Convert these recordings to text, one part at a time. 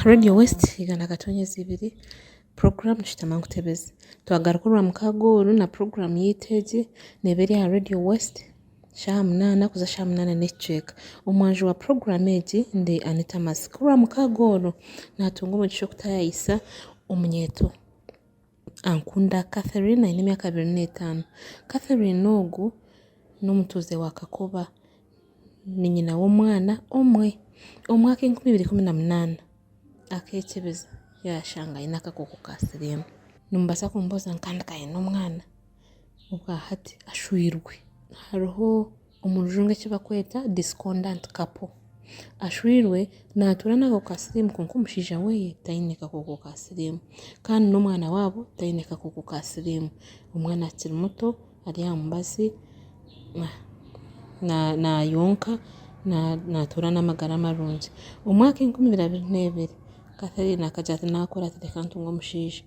Radio west igana katonyezi ibiri puroguramu shutama nkutebeze twagaruka orwa mukaaga oru na puroguramu yaitu egi neeba eri aha radio west shaaha munaana kuza shaaha munaana n'ekicweka omwanjo wa puroguramu egi ndi Anita Masi ku orwa mukaaga oru naatunga omugisha okutaayaayisa omunyeeto Ankunda Catherine aine emyaka abiri n'etaano. Catherine ogu n'omutuuze wa Kakoba. Ni nyina w'omwana omwe. Omu mwaka enkumi ibiri ikumi na munaana akekyebeza yashanga aine akakooko ka siriimu. Nimubaasa kumubuuza ngu kandi k'aine omwana? obwa hati ashwirwe hariho omu rujungu eki barikweta discordant couple. Ashwirwe naatuura n'ako ka siriimu kwonka omushaija we taine kakooko ka siriimu kandi n'omwana waabo taine kakooko ka siriimu. Omwana akiri muto ari aha mubazi naayonka naatuura n'amagara marungi. Omwaka enkumi ibiri abiri neebiri, Catherine akagira ati naakura ati reka ntunge omushaija.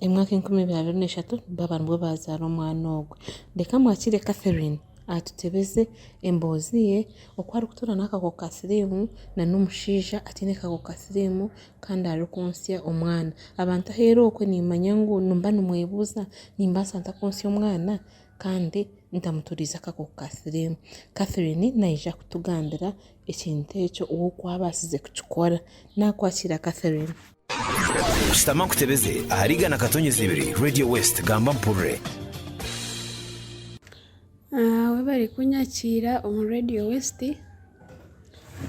Emyaka enkumi ibiri abiri n'eshatu baaba nibwo baazaara omwana ogwe. Reka mwakire Catherine atutebeze emboozi ye oku arikutuura n'akakooko ka siriimu nana omushaija ataine kakooko ka siriimu kandi arikwontsya omwana. Abantu ahu eri okwe niimanya ngu nimba nimwebuuza nimbaasa nta kwontsya omwana kandi ntamuturiize akakooko ka siriimu. Catherine naija kutugambira ekintu ekyo ou oku abaasize kukikora. Naakwakira Catherine. Shutama nkutebeze ahari igana katonyezi ibiri Radio West gamba mpurire. Webare kunyakiira omu Radio West.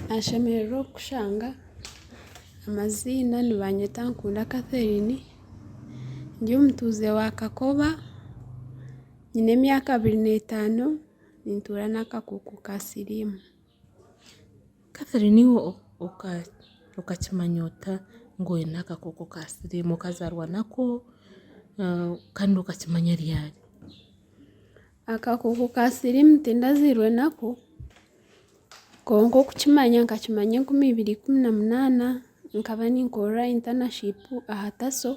Nashemererwa okukushanga. Amaziina nibanyeta Nkunda Catherine. Ndi omutuuze wa Kakoba. Nyine emyaka abiri n'etaano. Nintuura n'akakooko ka siriimu. Catherine iwe okakimanya ota ngu oine akakooko ka siriimu? Okazaarwa nako kandi okakimanya ryari? Akakooko ka siriimu tindaziirwe nako kwonka okukimanya nkakimanya enkumi ibiri ikumi na munaana nkaba ninkorera internship aha taso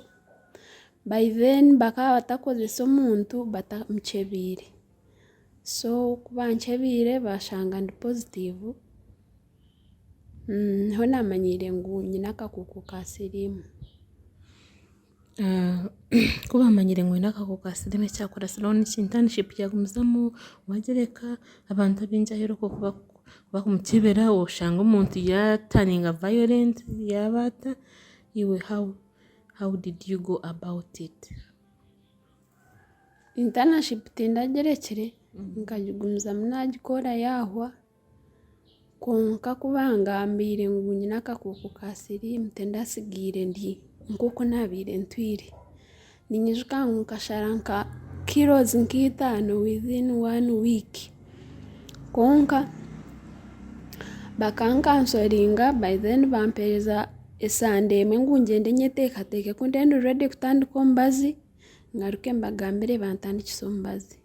by then bakaba batakukoresa omuntu batamukyebeire. so ku bankyebeire bashanga ndi pozitiivu niho naamanyiire ngu nyine akakooko ka siriimu. Ku baamanyire ngu nyine akakooko ka siriimu ekyakubaasiraho ni ki? Intanishipu yaagumizamu waagira eka abantu abaingi ahu orikuba ku bakumukyebeire aho oshanga omuntu yaataringa vayorenti yaaba ata iwe hawu, hawu didi yu goo abawuti iti? Intanaship tindagirekire nkagigumizamu nagikora yahwa kwonka ku bangambire ngu nyine akakooko ka siriimu tindatsigaire ndi nk'oku naabaire ntwire. Ninyijuka ngu nkashara nka kirozi nka itaano within one week kwonka bakankansoringa by then bampereza esande emwe ngu ngyende nyeteekateeke ku ndi ready kutandika omubazi. ngaruke mbagambire bantandikise omubazi.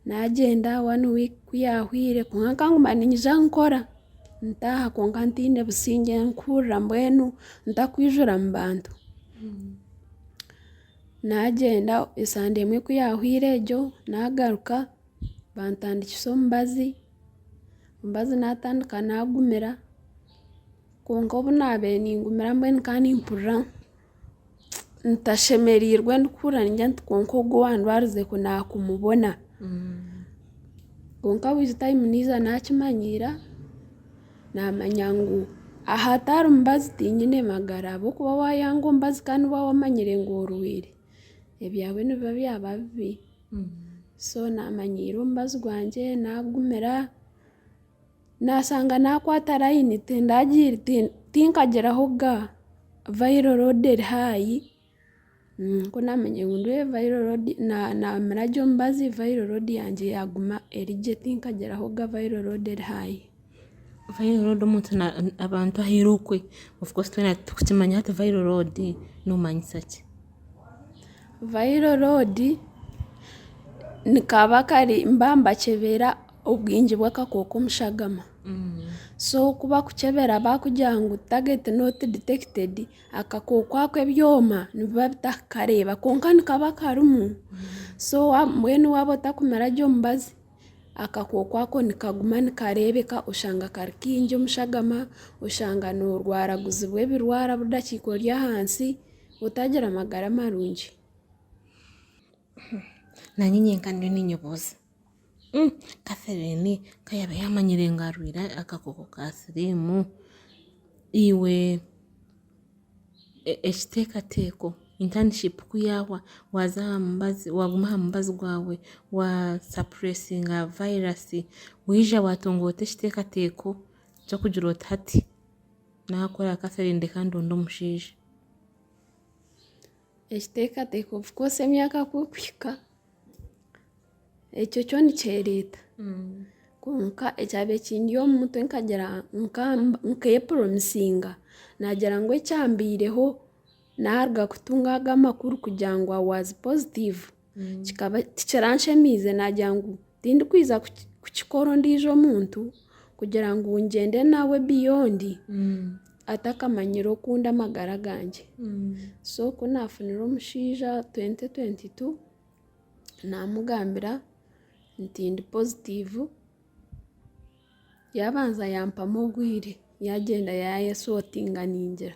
Naagyenda one week ku yaahwaire kwonka nkaguma niinyija nkora ntaaha kwonka ntaine busingye mpurira mbwenu ntarikwijura mu bantu. Naagyenda esande emwe ku yaahwaire egyo naagaruka bantandikise omubazi, omubazi naatandika naagumira kwonka obu naabaire ningumira mbwenu nkaba nimpurira ntashemereirwe ndikuhurira ningira nti kwonka ogu owandwarize ku naakumubona kwonka with time niija naakimanyiira naamanya ngu aha atari mubazi tihiine magara ahabw'okuba waayanga omubazi kandi waaba omanyire ngu orwaire ebyaawe nibiba byaba bibi so naamanyiira omubazi gwangye naagumira Naashanga naakwata layini tinkagiraho ga vayiro roodi eri haahi, nikwo naamanya ngu nyowe vayiro roodi, naamira gye omubazi vayiro roodi yangye yaaguma eri gye tinkagiraho ga vayiro roodi eri haahi. Vayiro roodi omuntu na abantu ahaire okwe, ofukoosi twena titukimanya hati vayiro roodi noomanyisa ki? Vayiro roodi, ni kaba kari mba mbakyebera obwingi bw'akakooko omu shagama. So ku bakukyebera baakugira ngu target not detected, akakooko ako ebyoma nibiba bitakakareeba kwonka nikaba karimu. So wa- mbwenu waaba otakumira gye omubazi, akakooko ako nikaguma nikareebeka oshanga kari kaingi omu shagama, oshanga noorwaraguzibwa ebirwara budakiika ori ahansi, otaagira magara marungi. Naanye nyenka ndiyo niinyebuuza. Catherine ku yaabe yaamanyire ngu arwaire akakooko ka siriimu, iwe ekiteekateeko, internship ku yaahwa waaza aha mubazi waaguma aha mubazi gwawe waasapuresinga vayirasi waija waatunga ota ekiteekateeko ky'okugira oti hati naakoraki Catherine ndeka ndonde omushaija. Ekiteekateeko of course emyaka ku erikuhika. Ekyo kyo nikyereeta kwonka ekyaba ekindi omu mutwe nkagira nk'eyepromisinga nagira ngu ekyambiireho naaruga kutunga aga amakuru kugira ngu i was positive kikaba tikiranshemezize nagira ngu tindikwiza kukikora ondiijo omuntu kugira ngu ngyende nawe beyond. atakamanyire oku ndi amagara gangye. So ku naafunire omushaija twenti twenti tu, naamugambira nti ndi pozitiivu, yaabanza yaampamu obwire, yaagyenda yaayesotinga ningira.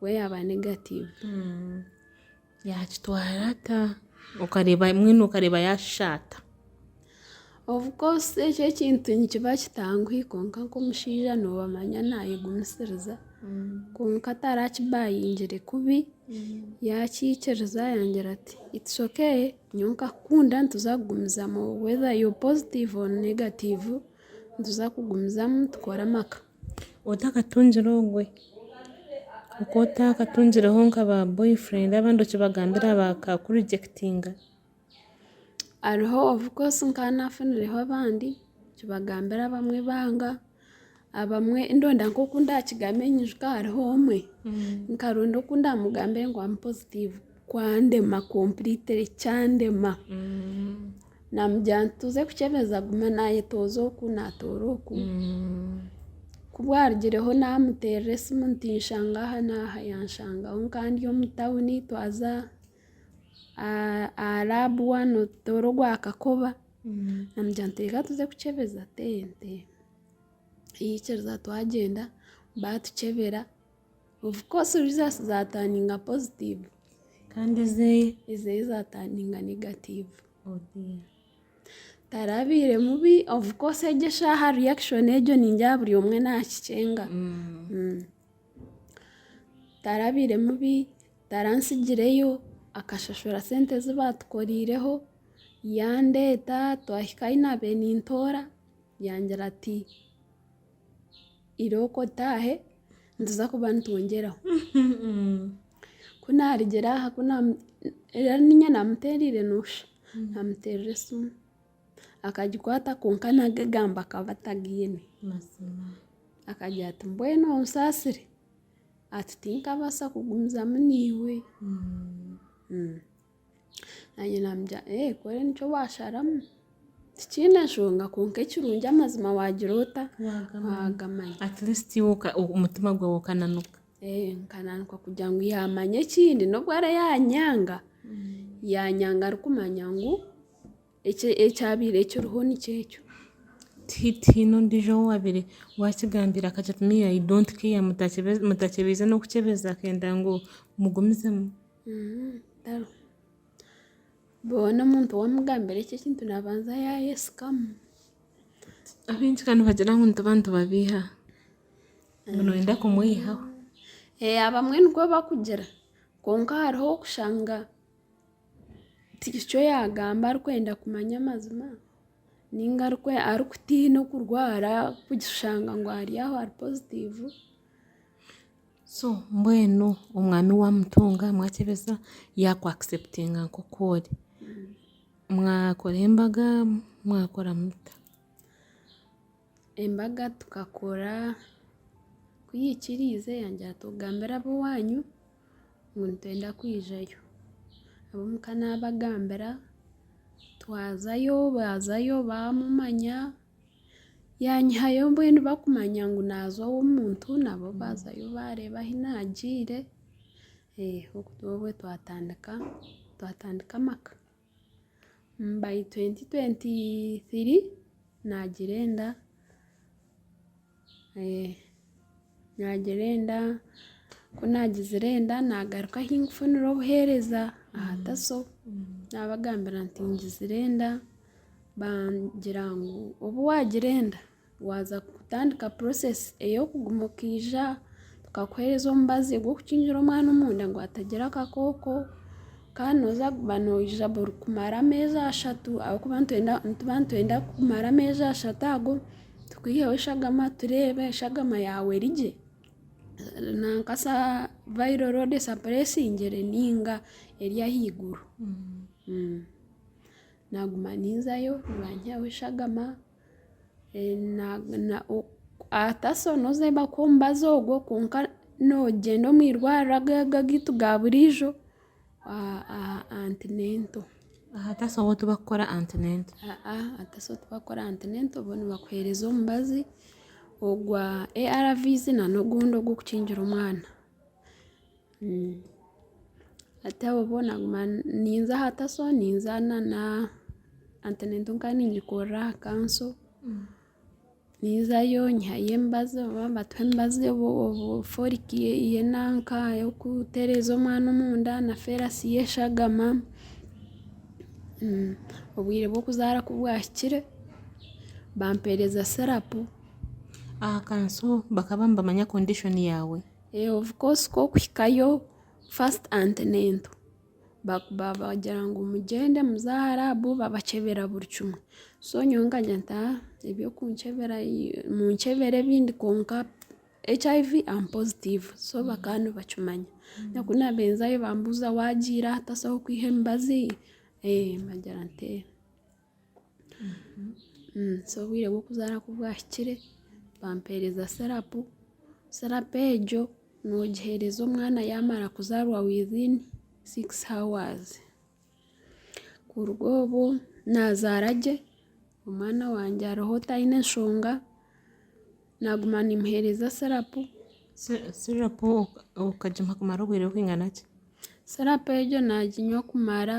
We yaaba negatiivu, yaakitwara ata? Okareeba mbwenu okareeba yaashisha ata? Of course ekyo ekintu nikiba kitangwi kwonka nk'omushaija nooba omanya naayegumisiriza. Kwonka atarakibayingire kubi, yaakiikiriza yaagira ati, it's okay nyowe nkakukunda nituza kugumizamu whether you're positive or negative nituza kugumizamu tukore amaka. Otakatungire ogwe, oku otakatungireho nka ba boyfriend abandi okibagambira bakakurigyekitinga? Hariho of course nkaba nafunireho abandi, okibagambira abamwe banga, abamwe ndonda nk'oku ndakigambire nyijuka hariho omwe nkaronda oku ndamugambire ngu amu positive. Kwandema completely kyandema namugira nti tuze kukyebeza agume nayetooza oku natoora oku ku bwarugireho namuterera esimu nti nshanga aha n'aha yanshangaho nkaba ndi omu tawuni twaza aha- aha lab one otutoora ogwa kakoba namugira nti reka tuze kukyebeza ente, twihikiiriza twagyenda batukyebera. Of course results za turninga positive kandi ezeye ezeye za turninga negative oh dear tarabaire mubi of course egyo eshaaha reaction egyo ningira buri omwe naakikyenga Mm. tarabaire mubi tarantsigireyo akashashura sente ezi baatukoreireho yandeeta twahika ahu naabaire nintoora yangira ati irooko otaahe nituza kuba nitwongyeraho ku naarigira aha ku naamu- reero niinye naamuteereire noosha naamuteerera esimu akagikwata kwonka naga egambo akaba atagaine Mazima. akagira ati mbwenu onsaasire ati tinkabaasa kugumizamu naiwe Mm. Naanye namugira ee ku ori nikyo washaramu tikiine nshonga kwonka ekirungi amazima waagira ota? Waagamanya. At least iwe oka- omutima gwawe okananuka. Ee, nkananuka kugira ngu yaamanya ekindi n'obu ara yaanyanga, yaanyanga arikumanya ngu eki- ekyabaire kiriho nikyo ekyo. Ti- Tihaine ondiijo ou waabaire waakigambira akagira ati me I don't care, mutakyebe- mutakyebeize n'okukyebeza akenda ngu mugumizemu. Boona omuntu wamugambira ekyo ekintu nabanza yayesigamu. Abaingi ka nibagira ngu nituba nitubabeiha, ngu noyenda kumweihaho. Abamwe nikwo bakugira, kwonka hariho ow'okushanga tikyo yagamba arikwenda kumanya amazima, ninga arikutiina okurwara kushanga ngu ari aho ari pozitiivu. So mbwenu omwami wamutunga mwakyebeza yaku acceptinga nkoku ori mwakora embaga mwakora muta? Embaga tukakora ku yikiriize yangira ati ogambire abowanyu ngu nitwenda kwijayo abomuka nabagambira twazayo bazayo bamumanya. Yaanyihayo mbwenu barikumanya ngu naaza ow'omuntu nabo baazayo baareeba ahu naagiire. Okwo n'okwo twatandika twatandika amaka. By twenti twenti thiri naagira enda. Naagira enda, ku naagizire enda naagaruka ahu ndikufunira obuheereza aha taso. Naabagambira nti ngizire enda, bangira ngu obu waagira enda waaza kutandika purosesi ey'okuguma okaija tukakuheereza omubazi ogw'okukingira omwana omunda ngu atagira akakooko. Kandi nooza kuguma noija burikumara ameezi ashatu ahabw'okuba nituba nitwenda kumara ameezi ashatu ago. Tukwiheho eshagama tureebe eshagama yaawe eri gye? Nanka sa vairo roodi esapuresingire nainga eri ahaiguru? Naaguma ninzayo nibanyihaho eshagama, hata so nooza ahu bakuha omubazi ogwo kwonka noogyenda omu irwariro aga agaitu ga buriijo aha antinento. Aha taso ahu tibakukora antinento. Aa aha taso ahu tibakukora antinento bo nibakuhereza omubazi ogwa ARV's na n'ogundi ogw'okukingira omwana. Hati aho bo naguma ninza aha taso ninza na antinento nkaba ningikorera aha kanso. Ninzayo nyihayo emibazi oba mbatuha emibazi folic ye nanka eyokutereza omwana omunda na ferous ye eshagama obwire bwokuzara ku bwahikire bampereza syrup. Aha kanso bakaba nibamanya condition yawe? Of course kokuhikayo first antenatal. bagira ngu mugyende muze aha laabu babakyebera buri kimwe so nyowe nkagenda ntaha ebyokunkyebera munkyebere ebindi kwonka HIV am positive so bakaba nibakimanya na ku nabenzayo bambuuza wagiire aha tasaho kwiha emibazi? Ee mbagira nti ee. so obwire bw'okuzaara ku bwahikire bampeereza sirapu, sirapu egyo noogiheereza omwana yaamara kuzaarwa within six hours. Kuruga obwo naazaara gye, omwana wangye ariho taine enshonga, naaguma nimuheereza sirapu. Sirapu okagimuha kumara obwire bwinganaki? Sirapu egyo naaginywa kumara.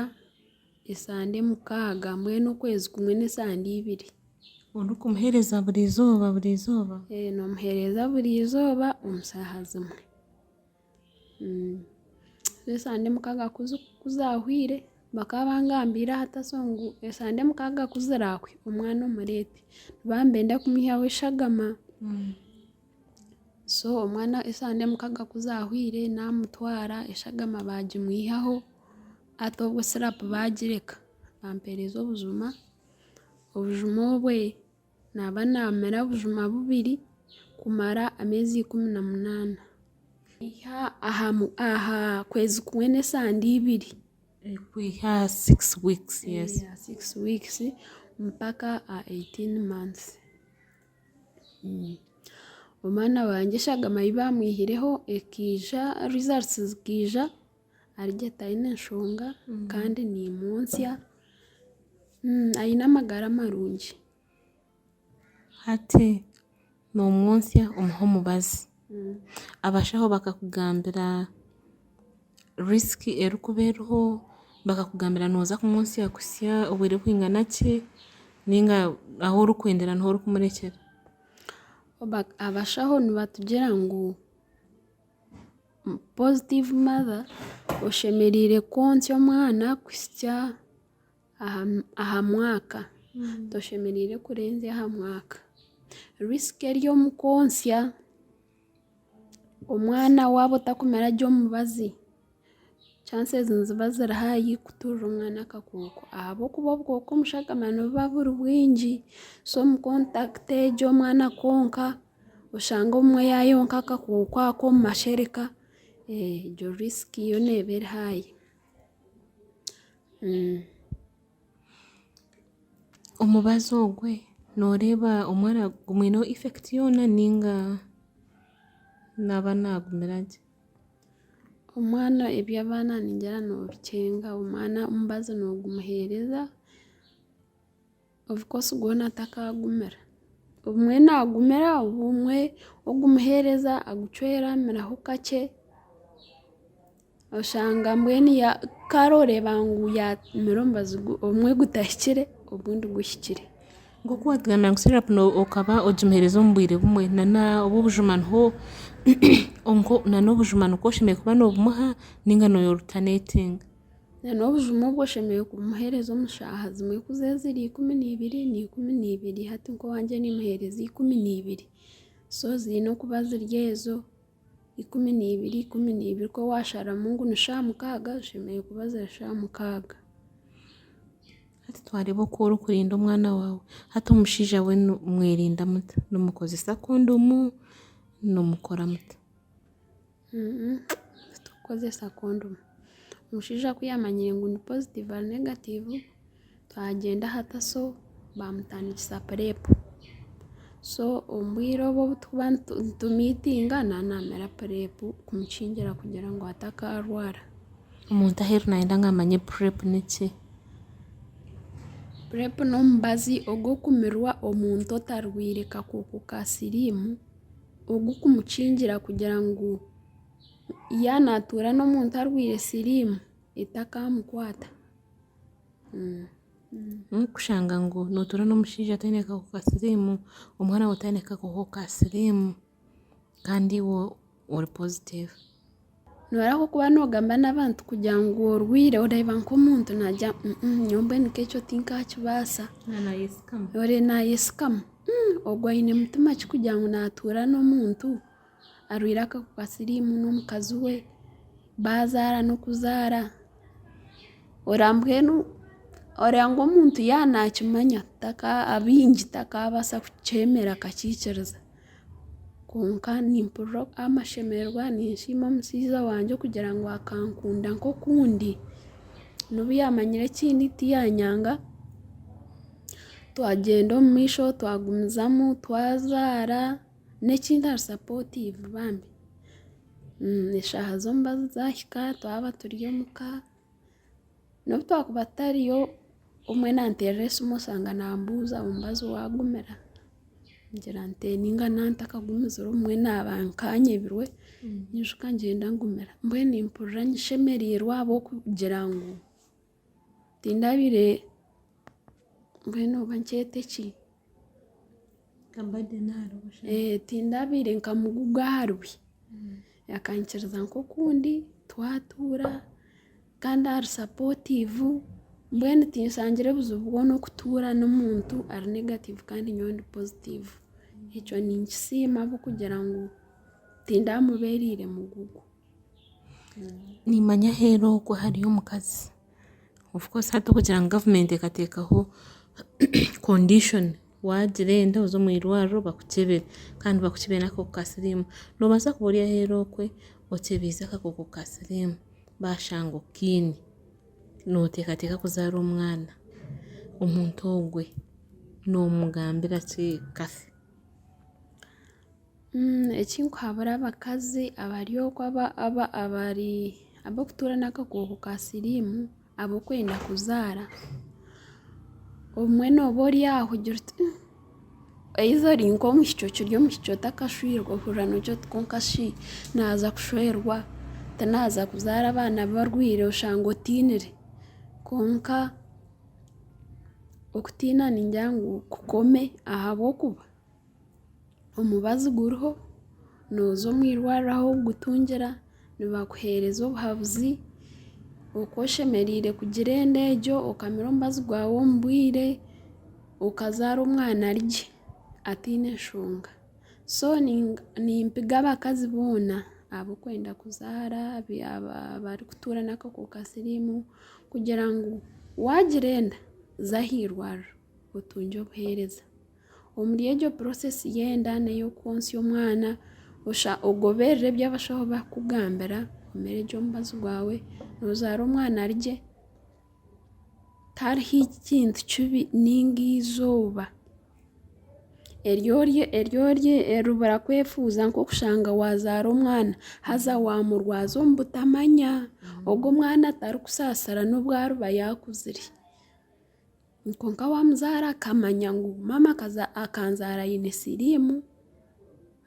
Esande mukaaga, mbwenu okwezi kumwe n'esande ibiri. Orikumuheereza buri izooba buri izooba? Ee, noomuheereza buri izooba omu shaaha zimwe. Reero esande mukaaga ku zi ku zaahwire, bakaba bangambiire aha taso ngu esande mukaaga ku ziraahwe omwana omureete. Baba nibenda kumuihyaho eshagama. So omwana esaaha n'emukaaga ku zaahwaire naamutwara eshagama baagimuihaho hati obwo sirapu baagireka bampeereza obujuma, obujuma obwe naaba naamira bujuma bubiri kumara emeezi ikumi na munaana kwiha aha kwezi kumwe n'esande ibiri kwiha aha sikisi wiikisi mpaka aha eitaini maansi. Omwana wangye eshagama ei baamwihireho ekaija rizarusi zikaija ari gye taine nshonga kandi niimwontsya. Aine amagara marungi. Hati noomwontsya omuha omubazi. Abashaho bakakugambira risk erikuba eriho, bakakugambira noza kumutsya kutsya obwire bwingana ki ninga ahu orikwendera niho orikumurekyera. Abashaho nibatugira ngu positive mother oshemerire kwotsya omwana kutsya. aha mwaka toshemereire kurenza aha mwaka risk eri omu kwontsya omwana waaba otakumire gye omubazi chances niziba ziri haahi kuturira omwana akakooko ahabw'okuba obukooko omu shagama nibuba buri bwingi so omu contact egyo omwana akonka oshange obumwe yaayonka akakooko ako omu mashereka egyo risk yoona eba eri haahi. Omubazi ogwe noreeba omwana gumwineho effect yoona ninga naba nagumira gye? Omwana eby'abaana ningira nobikyenga, omwana omubazi nogumuhereza. Of course gwona takagumira, obumwe nagumira obumwe ogumuhereza agucweramiraho kakye, oshanga mbwenu ya kare oreba ngu yamire omubazi gu obumwe gutahikire ogundi guhikire. Nkoku watugambire ngu syrup no okaba ogimuhereza omu bwire bumwe na na obubujuma niho nko na nobujuma nikwo oshemereire kuba nobumuha ninga noyerutenetinga. n'obujumo obwo oshemereire kumuheereza omu shaaha zimwe ku ziri ikumi na ibiri ni ikumi na ibiri hati nk'owangye nimuheereza ikumi na ibiri so ziine okuba ziri ezo ikumi na ibiri ikumi na ibiri ku waasharamu ngu ni shaaha mukaaga zishemereire kuba ziri shaaha mukaaga hati twareeba oku orikurinda omwana waawe hati omushaija we mwerinda muta? Nimukoresa kondomu? Nimukora muta? Titikukozesa kondomu. Omushaija ku yaamanyire ngu ndi pozitiivu nari negatiivu, twagyenda aha taso baamutandikisa purepu. So omu bwire obu obu turikuba nitumiitinga nda naamera purepu kumukingira kugira ngu atakaarwara. Omuntu aheeru naayenda ngu amanye purepu n'eki? Purepu n'omubazi ogw'okumirwa omuntu otarwaire kakooko ka siriimu. ogu kumukingira kugira ngu yaaba naatuura n'omuntu arwaire siriimu etakamukwata. N'okushanga ngu nootuura n'omushaija ataine akakooko ka siriimu, omwana waawe ataine akakooko ka siriimu kandi iwe ori pozitiivu. Norahuka okuba nogamba n'abantu kugira ngu orwaire oreeba nk'omuntu nagira ngu nyowe mbwenu nk'ekyo tinkakibaasa oreeba nayetsikama ogwo aine mutima ki kugira ngu natuura n'omuntu arwaire akahuka ka siriimu n'omukazi we bazaara n'okuzaara oreeba mbwenu oreeba ngu omuntu yaaba nakimanya abaingi takabaasa kukyemera akakiikiriza. Kwonka nimpurira amashemererwa ninshiima omushaija wangye okugira ngu akankunda nk'oku ndi. N'obu yamanyire ekindi tiyanyanga. Twagyenda omu maisho twagumizamu twazaara n'ekindi ari sapotiivu bambi. Eshaaha z'omubazi zaahika twaba turi omuka. N'obu twakuba tutariyo, omwe nanteerera esimu oshanga naambuuza ngu mubazi waagumira? Ningira nti ee nainga nantakagumizire omwe naaba nkanyebirwe, nyijuka ngyenda ngumira. Mbwenu mpurira nshemereirwe ahabw'okugira ngu tindabaire, mbwenu oba nkyete ki? Tindabaire nkamuguga aha rubi. Akaikiriza nk'okundi twatuura kandi ari sapotiivu. Mbwenu tinshangire buzibu bwona okutuura n'omuntu ari negatiivu kandi nyowe ndi pozitiivu. Ekyo ninkisiima ahabw'okugira ngu tindamubeereire mugugu. Of course hati okugira ngu gavumenti ekateekaho condition waagira enda oze omu irwariro bakukyebere kandi bakukyebere n'akakooko ka siriimu. Noobaasa kuba ori aheeru okwe okyebeize akakooko ka siriimu baashanga okaine, nooteekateeka kuzaara omwana, omuntu ogwe noomugambira ki? Kafe. Ekinkuhabura abakazi abari oku abarikutuura n'akakooko ka siriimu abarikwenda kuzaara, obumwe nooba ori aho ogira oti either ori nk'omwishiki okiri omwishiki otakashwirwe ohurira noogira oti kwonka shi naaza kushwerwa tinaaza kuzaara abaana barwaire oshanga otinire kwonka okutiina ningira ngu kukome ahabw'okuba omubazi guriho nooza omu irwariro ahu orikugutungira nibakuheereza obuhabuzi oku oshemereire kugira enda egyo okamira omubazi gwawe omu bwire okazaara omwana ari gye ataine nshonga so nimpiga abakazi boona abarikwenda kuzaara abarikutuura n'akakooko ka siriimu kugira ngu waagira enda za aha irwariro otungye obuheereza. Omuri egyo process y'enda n'ey'okwontsya omwana osha ogoberera ebi abashaho bakugambira omire gye omubazi gwawe nozaara omwana ari gye tariho ekintu kibi ninga eizooba eribura kwefuuza nk'okushanga wazaara omwana haza wamurwaza omu butamanya ogu omwana atari kusaasira n'obu ariba yakuzire. Kwonka waamuzaara akamanya ngu maama akanzaara aine siriimu,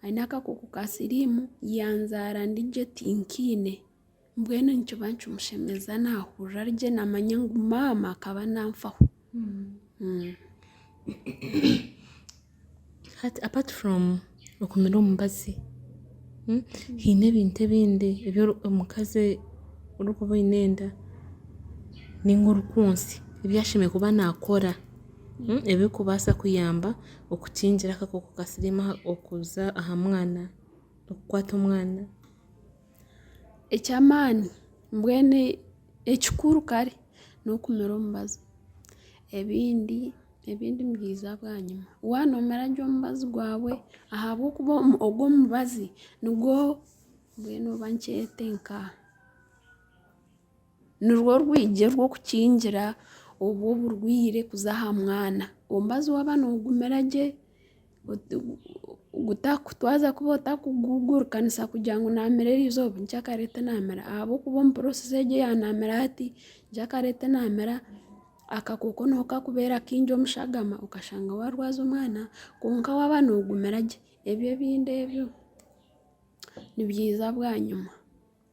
aine akakooko ka siriimu, yanzaara ndi gye tinkaine, mbwenu nikiba nikimushemeza naahurira ari gye naamanya ngu maama akaba nanfaho. Hati apart from okumira omubazi, haine ebintu ebindi ebi omukazi orikuba oine enda ninga orikunsya ebi ashemereire kuba nakora ebirikubaasa kuyamba okukingira akakooko ka siriimu okuza aha mwana, okukwata omwana. Eky'amaani mbwenu ekikuru kare n'okumira omubazi ebindi ebindi nibiija bwanyima. Waaba nomira gye omubazi gwawe ahabw'okuba ogwo omubazi nigwo mbwenu oba nkyete nka. Nirwo rwigye rw'okukingira obwo oburwaire kuza aha mwana. Omubazi waaba nagumira gye, twaaza kuba otarikugugurukanisa kugira ngu naamera eri izooba nikyo akareeta enaamera ahabw'okuba omu process egyo ya naamera hati, nikyo akareeta enaamera, akakooko niko kakubeera kaingi omu shagama okashanga waarwaza omwana. Kwonka waaba noogumira gye, ebyo ebindi ebyo, nibyiza bwanyima.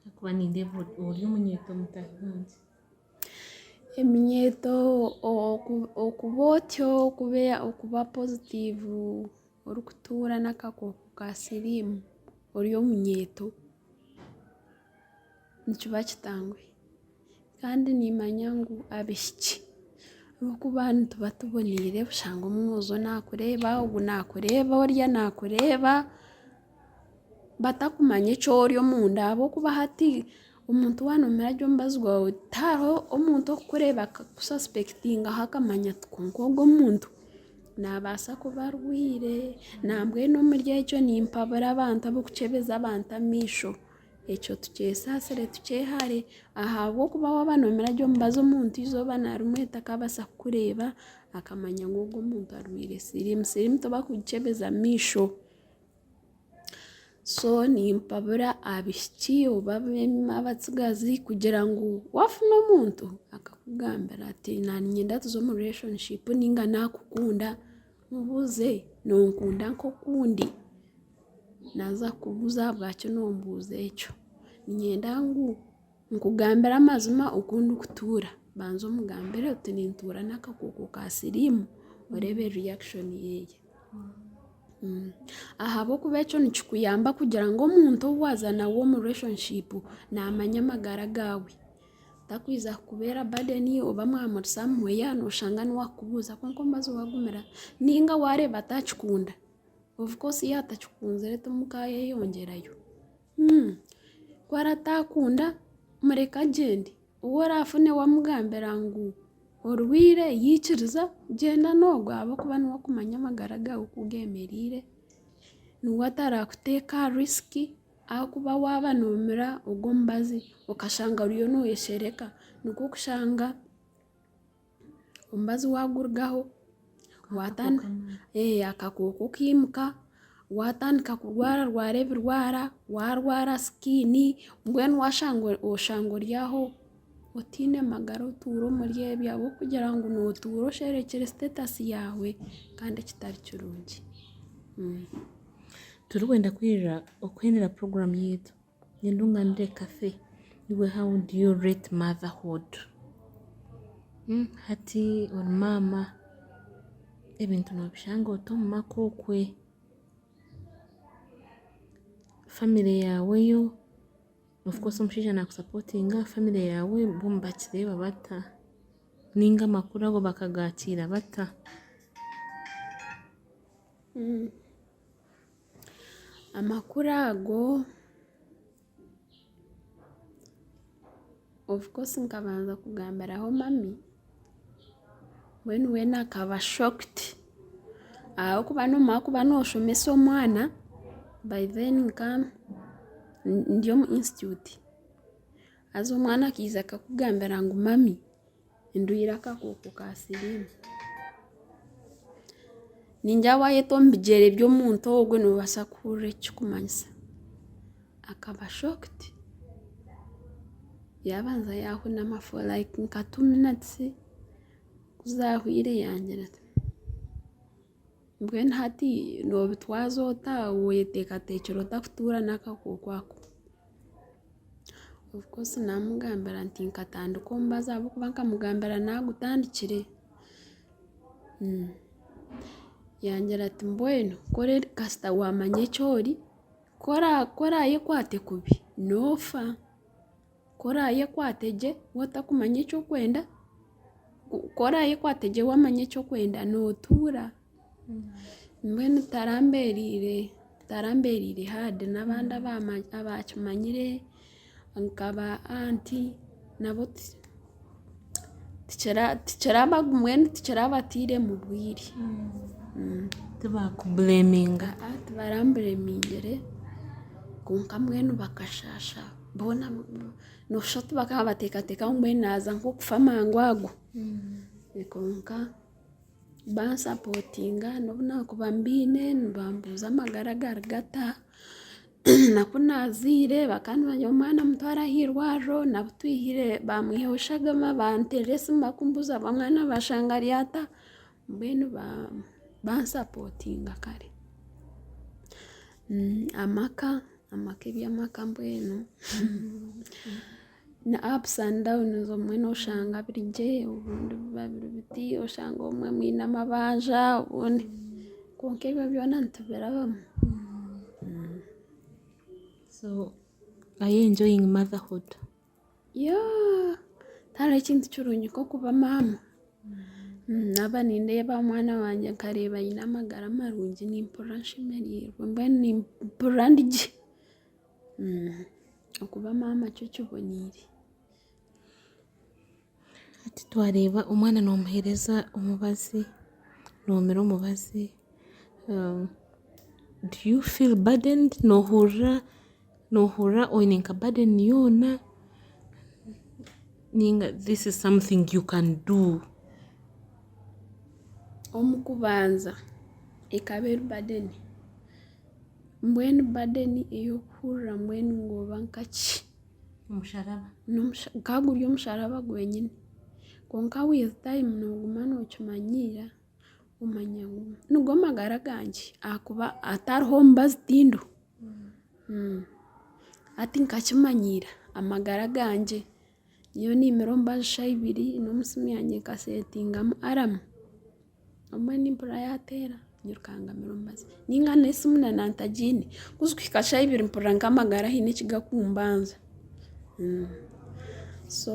Ahakuba nindeeba ori omunyeeto mutahi wangye. Eminyeeto okuba otyo okuba pozitiivu orikutuura n'akakooko ka siriimu ori omunyeeto nikiba kitangwa. Kandi nimanya ngu abaishiki ahabw'okuba nituba tuboneire bushanga omwojo naakureeba ogwo naakureeba oriya naakureeba batakumanya eki ori omunda ahabw'okuba hati omuntu waanoomugira gye omubazi gwawe tihariho omuntu orikukureeba akakusaspekitingaho akamanya ati kwonka ogu omuntu naabaasa kuba arwaire nambwenu omuri egyo nimpabura abantu abarikukyebeza abantu amaisho. Ekyo tukyesaasire tukyehare, ahabw'okuba waaba noomira gye omubazi omuntu eizooba na rimwe takabaasa kukureeba akamanya ngu ogwo omuntu arwaire siriimu. Siriimu tibarikugikyebeza amaisho. So nimpabura abaishiki oba abatsigazi kugira ngu waafuna omuntu akakugambira ati naaniinyenda tuze omu relationshipu nainga naakukunda, mubuuze, noonkunda nk'oku ndi? naaza kukubuuza ahabwaki nombuuza ekyo. Niinyenda ngu nkugambire amazima oku ndikutuura. Banza omugambire oti nintuura n'akakooko ka siriimu oreebe reaction ye. Ahabw'okuba ekyo nikikuyamba kugira ngu omuntu ou waaza nawe omu relationship naamanya amagara gaawe. Takwija kukubeera burden oba mwamuri somewhere nooshanga niwe akubuuza kwonka omubazi waagumira nainga waareeba atakikunda. Of course yaaba atakikunzire timukaayeyongyerayo. Ku arataakunda mureke agyende. Ou orafune wamugambira ngu orwaire yaikiriza, gyenda n'ogwo ahabw'okuba niwe okumanya amagara gaawe oku geemereire. Niwe atarakuteeka aha risk, ahakuba waaba noomira ogwo omubazi okashanga oriyo noyeshereka, nikwo kushanga. omubazi wagurugaho, akakooko kiimuka, watandika kurwararwara ebirwara, warwara sikini, mbwenu oshanga ori aho otaine magara otuura omuri ebyo ahabw'okugira ngu nootuura osherekire sitetasi yaawe kandi kitari kirungi. Turikwenda kwirira, okwirira puroguramu yaitu Nindunganire kafe iwe how do you rate motherhood? Hati ori maama ebintu nobishanga ota omu maka okwe? Family yaawe yo, of course omushaija nakusapotinga, family yaawe bo nibakireeba bata ninga amakuru ago bakagaakiira bata? Amakuru ago of course nkabanza kugambiraho mami mbwenu weena akaba shocked ahabw'okuba noomanya kuba nooshomesa omwana by then nka ndi omu institute haza omwana akaija akakugambira ngu mami Endwara y'akakooko ka siriimu ningira waayeta omu bigyere by'omuntu ogwo noobaasa kuhurira eki kirikumanyisa. Akaba shookidi, yaabanza yaahunama fo layiki nka tuu minitsi, ku zaahwire yaagira ati. Mbwenu hati nobitwaza ota weyeteekateekire ota kutuura n'akakooko ako? Ofcourse naamugambira nti nkatandika omubazi ahabw'okuba nkamugambira naagutandikire. Yangira ati mbwenu kasita waamanya eki ori, ku oraayekwate kubi noofa. Ku oraayekwate gye w'otakumanya eki orikwenda, ku oraayekwate gye wamanya eki orikwenda nootuura. Mbwenu tarambereire tarambereire haadi n'abandi abaakimanyire nka ba anti nabo ti tikiraba mbwenu tikirabateire mu bwire tibaramburemingyire kwonka mbwenu bakashasha boona noshusha oti bakaba nibatekateka ngu mbwenu naza nkokufa amangu ago kwonka bansapotinga nobu nakuba mbiine nibambuuza amagara agari gata. naku naazaire bakaba nibamanya omwana mutware aha irwariro naku twihire bamwihaho shagama banteera esimu bakumbuuza oba omwana bashanga ari ata mbwenu bansapotinga kare amaka amaka eby'amaka mbwenu. Ni ups and downs obumwe noshanga biri gye obundi biba biri biti oshanga obumwe mwine amabanja obundi kwonka ebyo byona nitubirabamu. Are you enjoying motherhood? Yeah tihariho ekintu kirungi nk'okuba maama naaba nindeeba omwana wangye nkareeba aine amagara marungi nimpurira nshemerirwe mbwenu nimpurira ndi gye. Okuba maama kyo kiboneire. Hati twareeba omwana nomuhereza omubazi, nomira omubazi, do you feel burdened? Nohurira nohurira oyine nka burden yoona ninga this is something you can do? Omu kubanza ekaba eri burden. Mbwenu badeni ey'okuhurira mbwenu ngooba nkaki? Omusharaba. N'omusha- Ka guri omusharaba gwenyine. Kwonka with time nooguma nookimanyiira, omanya ngu nigo magara gangye ahakuba hatariho omubazi tindo. Hati nkakimanyiira amagara gangye. Nyowe niimira omu bajusha ibiri n'omu simu yangye nkasetingamu aramu obumwe nimpurira yaateera nyirukaanga mira omu bajusha nainga n'esimu na nantagiine kuzi kuhika shaaha ibiri mpurira nk'amagara haine ekigakumbanza so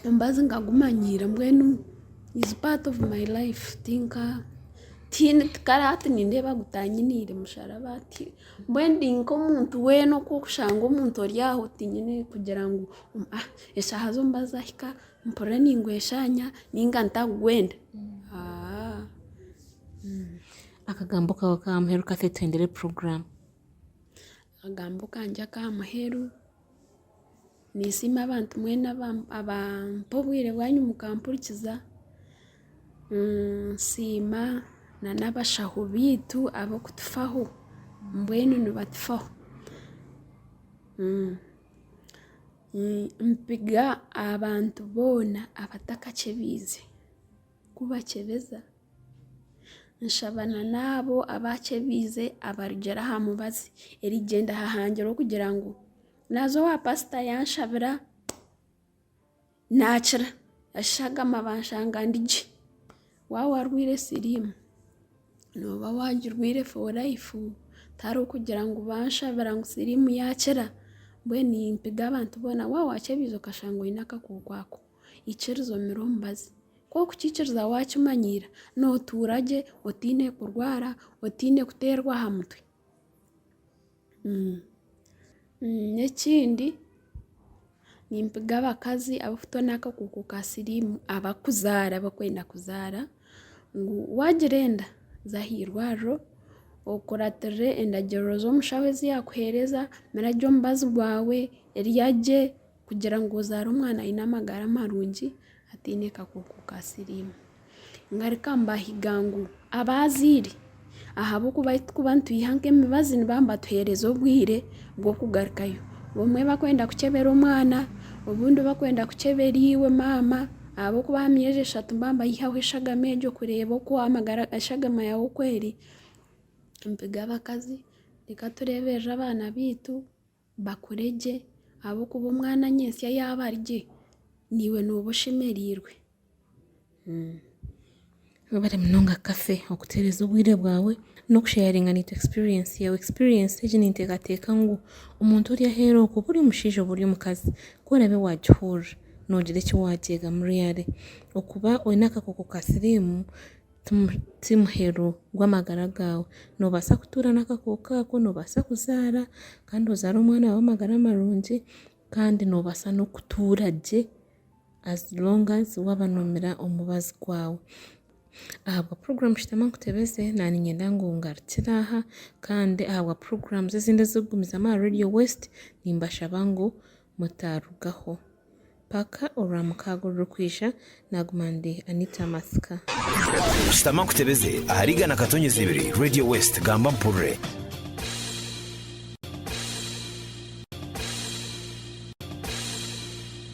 omubazi nkagumanyiira mbwenu izi paati ovu mayi layifu tinka tihaine tikara hati nindeeba gutanyiniire musharaba ti Mbwenu ndi nk'omuntu weena oku orikushanga omuntu ori aho otinyire kugira ngu eshaaha z'omuba zaahika mpurire ningweshaanya nainga ntagwenda. Akagambo kaawe ka muheru ka twetendere puroguraamu. Akagambo kangye aka muheru. Ninsiima abantu mwena abampa obwire bwanyu mukampurikiza. Nsiima n'abashaho baitu ab'okutufaho, mbwenu nibatufaho. Nimpika abantu boona abatakakyebiize kubakyebeza. Nshaba n'abo abaakyebiize abarugire aha mubazi erigyenda aha hangire okugira ngu Naaza owa pasita yaanshabira naakira. Eshagama banshanga ndi gye. Waaba orwaire siriimu, nooba waagirwaire for life. Tihariho orikugira ngu banshabira ngu siriimu yaakira, mbwenu nimpiga abantu boona waaba waakyebiize okashanga oine akakooko ako, ikiriza omire omubazi. Ku orikukiikiriza waakimanyiira, nootuura gye otaine kurwara, otaine kuteerwa aha mutwe. N'ekindi nimpiga abakazi abarikutoona n'akakooko ka siriimu abarikuzaara barikwenda kuzaara ngu waagira enda za aha irwariro okuratirire endagiriro z'omushaho ezi yaakuheereza, mira gye omubazi gwawe, rya gye. Kugira ngu ozaare omwana aine amagara marungi ataine kakooko ka siriimu. Ngaruka mbahiga ngu abaazaire ahabw'okuba ahi turikuba nitwiha nk'emibazi nibaba nibatuheereza obwire bw'okugarukayo. Obumwe barikwenda kukyebera omwana, obundi barikwenda kukyebera iwe maama ahabw'okuba aha myezi eshatu mba mbayihaho eshagama egyo kureeba oku amagara eshagama yaawe oku eri. Mpiga abakazi, reka tureeberere abaana baitu. bakure gye, ahabw'okuba omwana nyentsya yaaba ari gye, naiwe nooba oshemereirwe. Webare munonga Cathy okutuheereza obwire bwawe n'okusheyaringa nitwe experience yaawe. Experience egi ninteekateeka ngu omuntu ori aheeru okwo oba ori omushaija oba ori omukazi ku oraabe waagihurira noogira eki waagyegamu really. Okuba oine akakooko ka siriimu Ti muheru gw'amagara gaawe. Noobaasa kutuura n'akakooko ako, noobaasa kuzaara kandi ozaare omwana w'amagara marungi kandi noobaasa n'okutuura gye as long as waaba noomira omubazi gwaawe. Ahabwa puroguramu Shutama Nkutebeze naaniinyenda ngu ngarukire aha kandi ahabwa puroguramu ezindi ezirikugumizamu aha Radio West nimbashaba ngu mutaarugaho. Paka orwamukaaga orurikwija naguma ndi Anita Matsika. Shutama nkutebeze ahari igana katonyezi ibiri Radio West gamba mpurire.